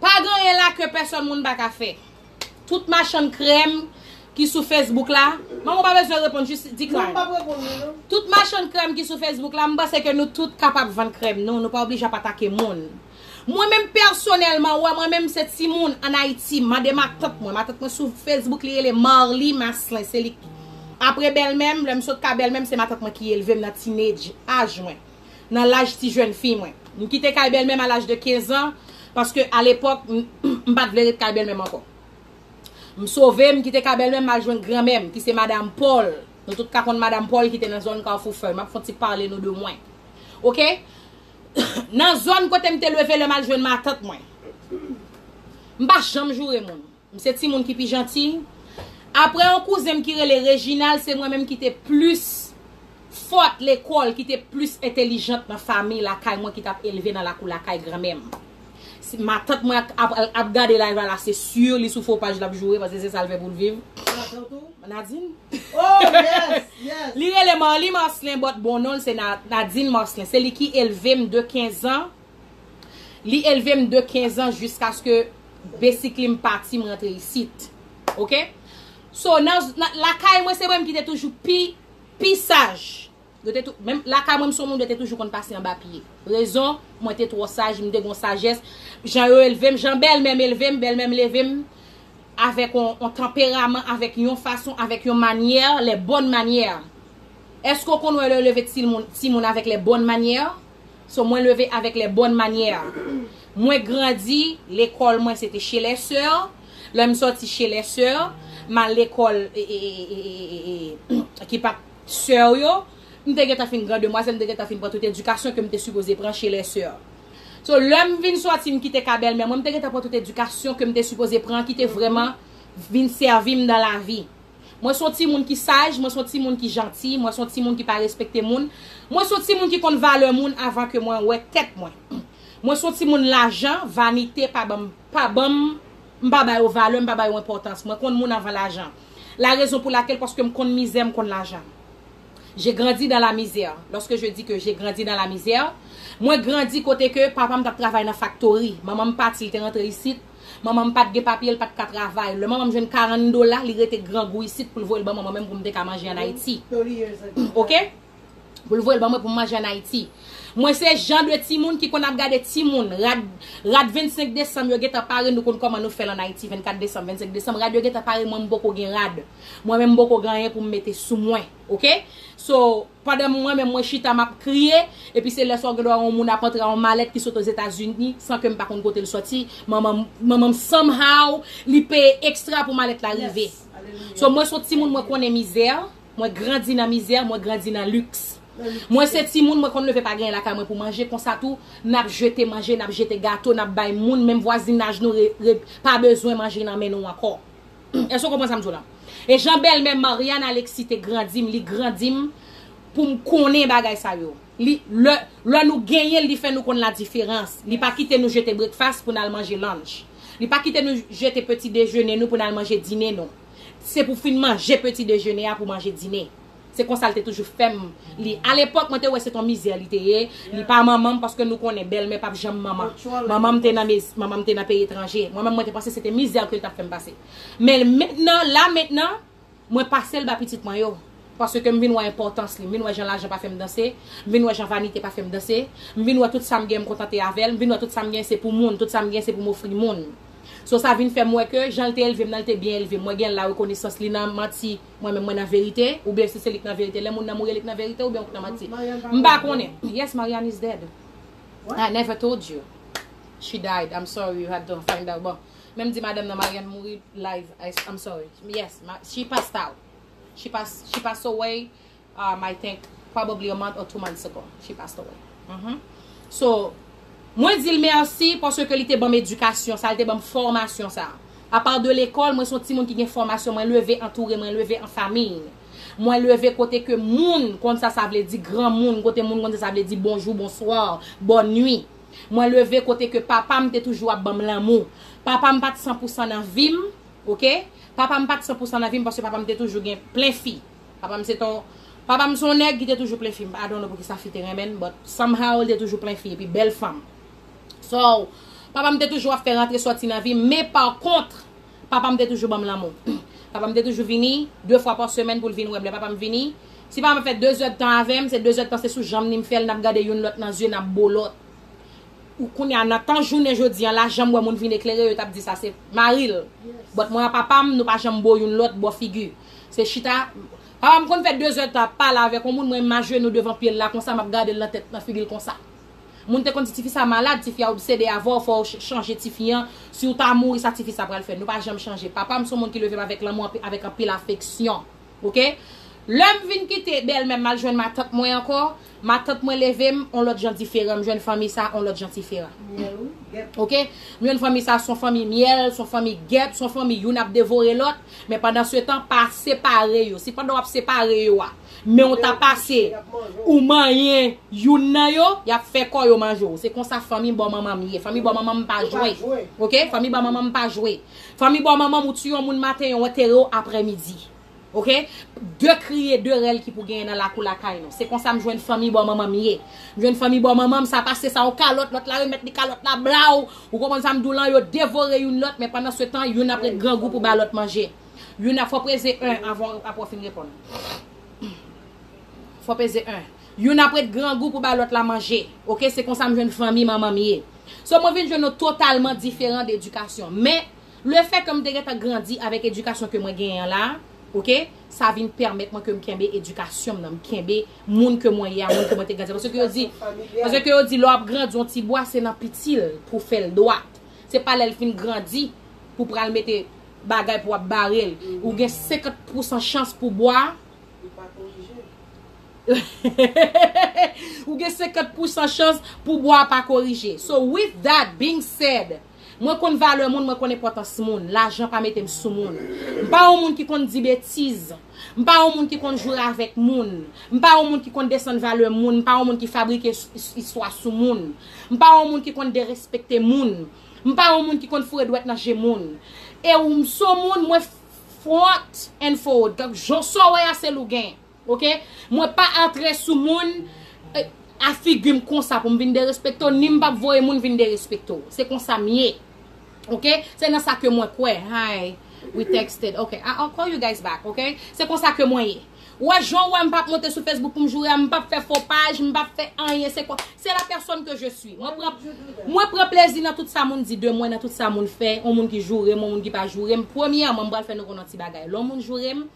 Pa gen anyen la ke pèsòn moun pa ka fè. Tout machann krèm ki sou Facebook la, manman ou pa bezwen reponn jis decline. Tout machann krèm ki sou Facebook la, m panse ke nou tout kapab vann krèm nou, nou pa oblije ap atake moun. Mwen menm pèsonèlman, ou wè mwen menm se timoun an Ayiti, mande matant mwen, matant mwen sou Facebook li rele Marlie Maslin, se li ki, apre bèlmè m, lè m sot ka bèlmè m se matant mwen ki elve m nan teenage, aj mwen. nan laj ti jèn fi mwen. M kite kay bèlmè m a laj de 15 an, paske a lepòk m pa t vle ret kay bèlmè m ankò. M sove, m kite kay bèlmè m m al jwenn granmè m, ki se madam Pòl. Nou tout ka konn madam Pòl ki te nan zòn Kafou Fèy. M ap fon ti pale nou de mwen. Ok? Nan zòn kote m te leve lè m al jwenn matant mwen. M pa janm joure moun. M se timoun ki pi janti. Aprè yon kouzen m ki rele Reginald, se mwen menm ki te plis fòt lekòl, ki te plis entelijant nan fami lakay mwen ki t ap elve nan lakou lakay granmè m. Si matant mwen ap gade layv la la, se sur li sou fo paj l ap joure paske se sa l fè pou l viv. Li rele Marly Marcelin bòt bon non l se Nadine Marcelin. Se li ki elve m de 15 an Li elve m de 15 ans jiskaske basically m pati m rantre isit. Ok. So nan lakay mwen se mwen ki te toujou pi pi saj. Yo te tou menm lakay mwen m son moun yo te toujou konn pase anba pye. Rezon mwen te twò saj m te gon sajès. Jan yo elve m, jan bèlmè m elve m, bèlmè m leve m avèk on tanperaman, avèk yon fason, avèk yon manyè, les bonnes manières. Eske w konn wè lè yo leve ti moun avèk les bonnes manières? So mwen leve avèk les bonnes manières. Mwen grandi, lekòl mwen se te chez les sœurs, lè m sòti chez les sœurs, m al lekòl ki pa t sœur yo, m te gentan fin gran demwazèl, m te gentan fin pran tout edikasyon ke m te sipoze pran chez les sœurs. So lè m vin sòti m kite ka bèlmè mwen, m te gentan pran tout edikasyon ke m te sipoze pran ki te vrèman vin sèvi m dan lavi. Mwen son timoun ki saj, mwen son timoun ki janti, mwen son timoun ki pa respekte moun, mwen son timoun ki konn valè moun avan ke mwen wè tèt mwen. Mwen son timoun lajan, vanite pa banm, pa banm, m pa ba yo valè, m pa ba yo enpòtans. Mwen konn moun avan lajan. La raison pour laquelle paske m konn mizè, m konn lajan. J'ai grandi dans la misère. Lorsque je dis que j'ai grandi dans la misère, mwen grandi kote ke papa m tap travay nan faktori, manman m pati li te rantre isit, Manman m pa t gen papye, l pa t ka travay. Lè manman m jwenn karann dola, li rete grangou isit pou l voye l ban mwen mwen menm pou m te ka manje ann Ayiti. Ok? Pou l voye l ban mwen pou m manje ann Ayiti. Mwen se jan de timoun ki konn ap gade timoun. Rad, rad 25 desanm yo gentan pare, nou konn kòman nou fè l ann Ayiti, 24 desanm, 25 desanm. Rad yo gentan pare, mwen m poko gen rad. Mwen menm m poko gen anyen pou m mete sou mwen. Ok? So. Pandan mwen menm mwen chita map kriye, epi se lè sa w gen dwa wè yon moun ap antre a yon malèt ki sot Ozetazini san ke m pa konn kote l soti, manman manman m somehow li peye extra pou malèt la rive. So mwen son timoun mwen konnen mizè, mwen grandi nan mizè, mwen grandi nan luxe. Mwen se timoun mwen konn leve pa genyen lakay mwen pou manje, konsa tou nap jete manje, nap jete gato, nap bay moun, menm vwazinaj nou pa bezwen manje nan men nou ankò. Èske w konprann sa m di w la? E jan bèlmè Marianne Alexis te grandi m, li grandi m pou m konnen bagay sa yo. Li, lè, lè nou genyen l li fè nou konn ladiferans. Li pa kite nou jete brekfas pou n al manje lunch. Li pa kite nou jete peti dejene nou pou n al manje dine nou. Se pou fin manje peti dejene a pou manje dine. Se konsa l te toujou fè m li. Alepòk, mwen te wè se t on mizè li te ye. Li pa manman m paske nou konnen bèlmè pap janm manman. Manman m te nan mezi, manman m te nan peyi etranje. Mwen menm mwen te panse se te mizè ke l t ap fè m pase. Men mentnan, la mentnan, mwen pase l ba pitit mwen yo. Paske m vin wè enpòtans li. M vin wè jan lajan pa fè m danse. M vin wè jan vanite pa fè m danse. M vin wè tout sa m gen m kontante avè l. M vin wè tout sa m gen se pou moun. Tout sa m gen se pou m ofri moun. So sa vin fè m wè ke jan l te elve m nan l te byen elve m. Mwen gen larekonesans li nan manti. Mwen menm mwen nan verite oubyen si se li k nan verite lè moun nan mouri li k nan verite oubyen ou k nan manti m pa konnen yes Marianne is dead I never told you she died I'm sorry you had to find out bon men m di madanm nan Marianne mouri live I'm sorry yes she passed out she passed away um I think probably a month or two months ago she passed away uhmm so mwen dil merci paske ke li te banm edikasyon sa li te banm fòmasyon sa a part de lekòl mwen son timoun ki gen fòmasyon mwen leve antoure mwen leve an famiy mwen leve kote ke moun konn sa sa vle di granmoun kote moun konn sa sa vle di bonjou bonsoir bòn nwi mwen leve kote ke papam te toujou ap banm lanmou papam pat san pou san nan vim ok papam pat san pou san nan vim paske papam te toujou gen plen fi. Papa m se t on Papa m se yon nèg ki te toujou plen fi I don't know poukisa fi te renmen l but somehow li te toujou plen fi epi bèl fanm So papa m te toujou ap fè rantre sòti nan vi m men pa kontre papa m te toujou ban m lanmou Papa m te toujou vini 2 fwa pa semèn pou l vin wè m lè papa m vini si papa m ap fè 2 zèd tan avè m se 2 zèd tan se sou janm li m fè l n ap gade youn lòt nan zye n ap bo lòt ou kounye a nan tan jounen jodi an la janm wè moun vin eklere yo t ap di sa se mari l but mwen a papa m nou pa janm bo youn lòt bò figi. Se chita, papa m konn fè dezè tan ap pale avèk yon moun mwen m ajenou devan pye l la konsa m ap gade l nan tèt nan figi l konsa. Moun te konn di tifi sa malad, tifi a obsede avè w fò w chanje tifi an, si w ta mouri sa tifi sa pral fè. Nou pa janm chanje. Papa m se yon moun ki leve m avèk lanmou avèk anpil afeksyon. Ok. Lè m vin kite bèlmè m m al jwenn matant mwen ankò, Matant mwen leve m on lòt jan diferan m jwenn fanmi sa on lòt jan tiferan ok m jwenn fanmi sa son fanmi myèl son fanmi gèp son fanmi youn ap devore lòt men pandan se tan pa separe yo si pandan wap separe yo a men w ta pase ou manyen youn nan yo yap fè kò yo manje w se konsa fanmi bò manman m ye fanmi bò manman m pa jwe ok fanmi bò manman m pa jwe fanmi bò manman m ou tiye yon moun maten yo antere w aprè midi. Ok de kriye de rèl ki pou genyen nan lakou lakay nou se konsa m jwenn fanmi bò manman m ye m jwenn fanmi bò manman m sa pase sa yon kalòt lòt la remèt li kalòt la blaw ou konprann sa m di w lan yo devore youn lòt men pandan se tan youn ap ret grangou pou ba lòt manje youn ap fò w peze 1 avan w apre w fin reponn fò w peze 1 youn ap ret grangou pou ba lòt la manje ok se konsa m jwenn fanmi manman m ye so mwen vin jwenn nou totalman diferan de edikasyon men. Le fè ke m te gentan grandi avèk edikasyon ke mwen genyen an la, ok, sa vin pèmèt mwen ke m kenbe edikasyon m nan, m kenbe moun ke mwen ye a, moun ke mwen te grandi a. Paske yo di, paske yo di lè w ap grandi yon ti bwa se nan piti l pou w fè l dwat. Se pa lè l fin grandi pou w pral mete bagay pou w ap bare l. Ou gen 50 pousan chans pou bwa a, Li pa korije. Ou gen 50 pousan chans pou bwa a pa korije. So with that being said. Mwen konn valè moun, mwen konn enpòtans moun. Lajan pa mete m sou moun. M pa yon moun ki konn di betiz. M pa yon moun ki konn jwe avèk moun. M pa yon moun ki konn desann valè moun. M pa yon moun ki fabrike istwa sou moun. M pa yon moun ki konn derespekte moun. M pa yon moun ki konn foure dwèt nan je moun. E w m s on moun mwen front and forward. Jan w wè a se l ou gen. Ok mwen pa antre sou moun a figim konsa poum vin derespekte w ni m pap voye moun vin derespekte w se konsa m ye ok se nan sa ke mwen kwè hi we texted ok i'll call you guys back ok se konsa ke mwen ye ou wè jan w wè m pap monte sou facebook poum joure a m pap fè fo paj m pap fè anyen se kon se la pèsòn ke je swi mwen pran mwen pran plezi nan tout sa moun di de mwen nan tout sa moun fè yon moun ki joure m yon moun ki pa joure m premyèman m pral fè nou konnen yon ti bagay lè yon moun joure m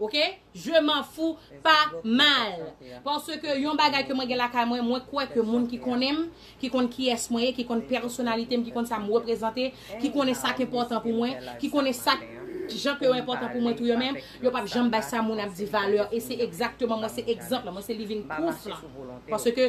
Ok je m'en fou pa mal parce que yon bagay ke mwen gen lakay mwen mwen kwè ke moun ki konnen m ki konn kiyès mwen ye ki konn pèsonalite m ki konn sa m reprezante ki konnen sa k enpòtan pou mwen ki konnen sa k jan ke yo enpòtan pou mwen tou yo menm yo pap janm bay sa moun ap di valè e se egzakteman mwen se egzanp lan mwen se living proof lan parce ke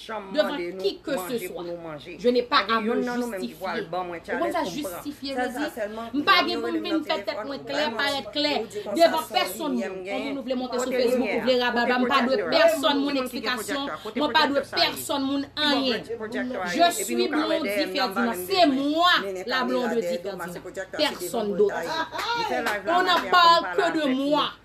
chanm mande nou manje pou nou manje pa gen youn nan nou menm ki pwal ban mwen challenge pou m pran sèl sa sèlman m pa gen pou m vin fè tèt mwen klè parèt klè devan pèsonn moun konbyen nou vle monte sou facebook ou vle rabalba m pa dwe pèsonn moun eksplikasyon mwen pa dwe pèsonn moun anyen je suis Blondie Ferdinand se mwa la Blondedy Ferdinand pèsonn dot on n'en parle que de moi.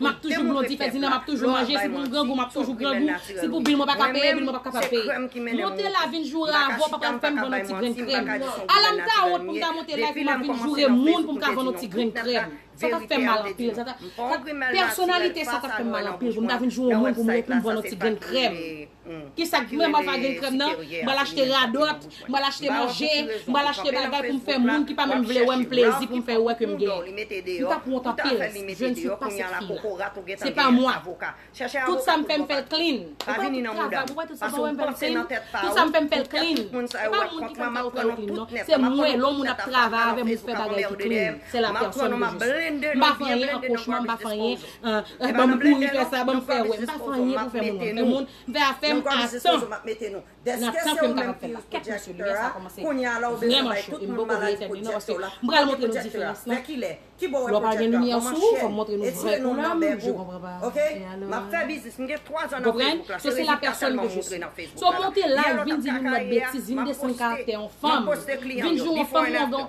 Map toujou blondy fè dinner map toujou manje si pou m grangou map toujou grangou si pou bil mwen paka peye bil mwen pap kapab peye monte la vin joure avè w pa pral fè m vann yon ti grenn krèm ala m ta wont pou m ta monte live pou m ap vin joure moun pou m ka vann yon ti grenn krèm sa tap fè m mal anpil sa tap pèsonalite sa tap fè m mal anpil pou m ta vin joure moun pou m vann yon ti grenn krèm. Ki sa k vrèman pa gen nan krèm nan? M pral achte radòt, m pral achte manje, m pral achte bagay pou m fè moun ki pa menm vle wè m plezi pou m fè yo wè ke m gen. M tap wont anpil si je ne suis pas cette fille là. Se pa mwa. Tout sa m fè m fè l clean. Ou pa wè tout travay, ou pa wè tout sa m fè m fè l clean? Tout sa m fè m fè l clean. Se pa moun ki fè m fè yo fè yo clean non. Se mwen, lè yon moun ap travay avè m pou fè bagay ki clean. Se la personne que je suis. M pa fè anyen an kochma, m pa fè anyen. Ahh banm kouri fè sa banm fè wè. M pa fè anyen pou fè moun wè. M fè moun, m fè afè m a tan. Nan tan ke m kapab fè la. Kèt mesye limyè sa kòmanse vrèman cho e m poko vle etèn li non paske m pral montre nou diferans lan. Lè w pa gen limyè sou ou fò m montre nou vrè ou nan m je konpran pa e alò. Konprann? So se la pèsòn ke je si. So monte live vin di yon lòt betiz vin desann karaktè yon fanm vin di yon fanm yon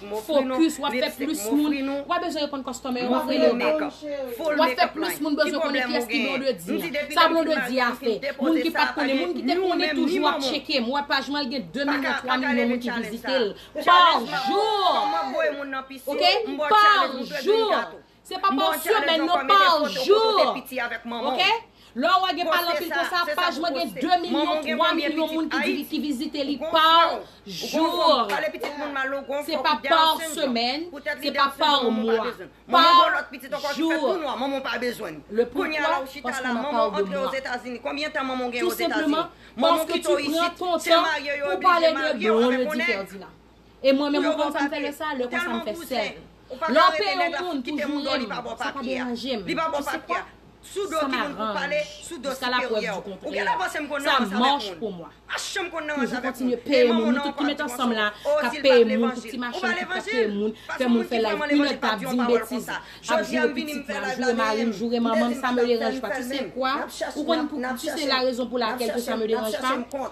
Focus, wap fè plus moun, ou pa bezwen reponn customer yo, wap rele yo back. Wap fè plus moun bezwen konnen kiyès ki Blondedy a. Sa Blondedy a fè. Moun ki pat konnen, moun ki te konnen toujou ap tcheke m, wè paj mwen gen 2 milyon, 3 milyon moun ki vizite l par jour! Ok! Par jour! Se pa passion bèl non parjour ok lè wè gen pale anpil konsa paj mwen gen 2 milyon 3 milyon moun ki vizite li parjour se pa par semaine se pa par mois parjour le poukwa paske nan pale de moi tout simplement paske tu pran ton tan pou pale de Blondedy Ferdinand. E mwen menm mwen pa konn fè lè sa, lè konsa m fè sèl. Lè w peye yon moun pou joure m, sa pa deranje m. Tu sais quoi? Ça m'arrange. Jiska la prèv di kontrè. Ça marche pour moi. Toujou kontinye peye moun. Nou tout ki met ansanm la, k ap peye moun pou ti machann, ki pa peye moun, fè moun fè live une heure tan, ap di m betiz, ap joure pitit mwen, ap joure mari m, joure manman m, ça me derange pas. Tu sais quoi? Ou konn pou, tu sais la raison pour laquelle que ça me derange pas?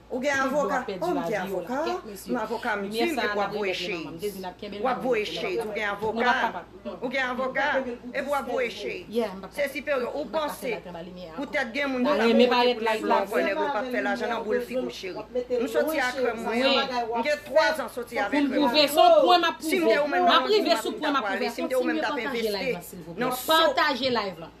Ou gen avoka? Oh m gen avoka, m avoka m di m epi w ap voye shade. W ap voye shade ou gen avoka? Ou gen avoka? Epi w ap voye shade. Se siperyo ou panse poutèt gen moun ki pa bon kote pou nèg lan ou kwè nèg lan pa p fè lajan nan boul figi w cheri. M soti a krèm mwen an, m gen 3 zan soti avè krèm mwen an. Si m te ou menm nan Londin m ap di m ta pwale, si m te ou menm m t ap envesti nan so.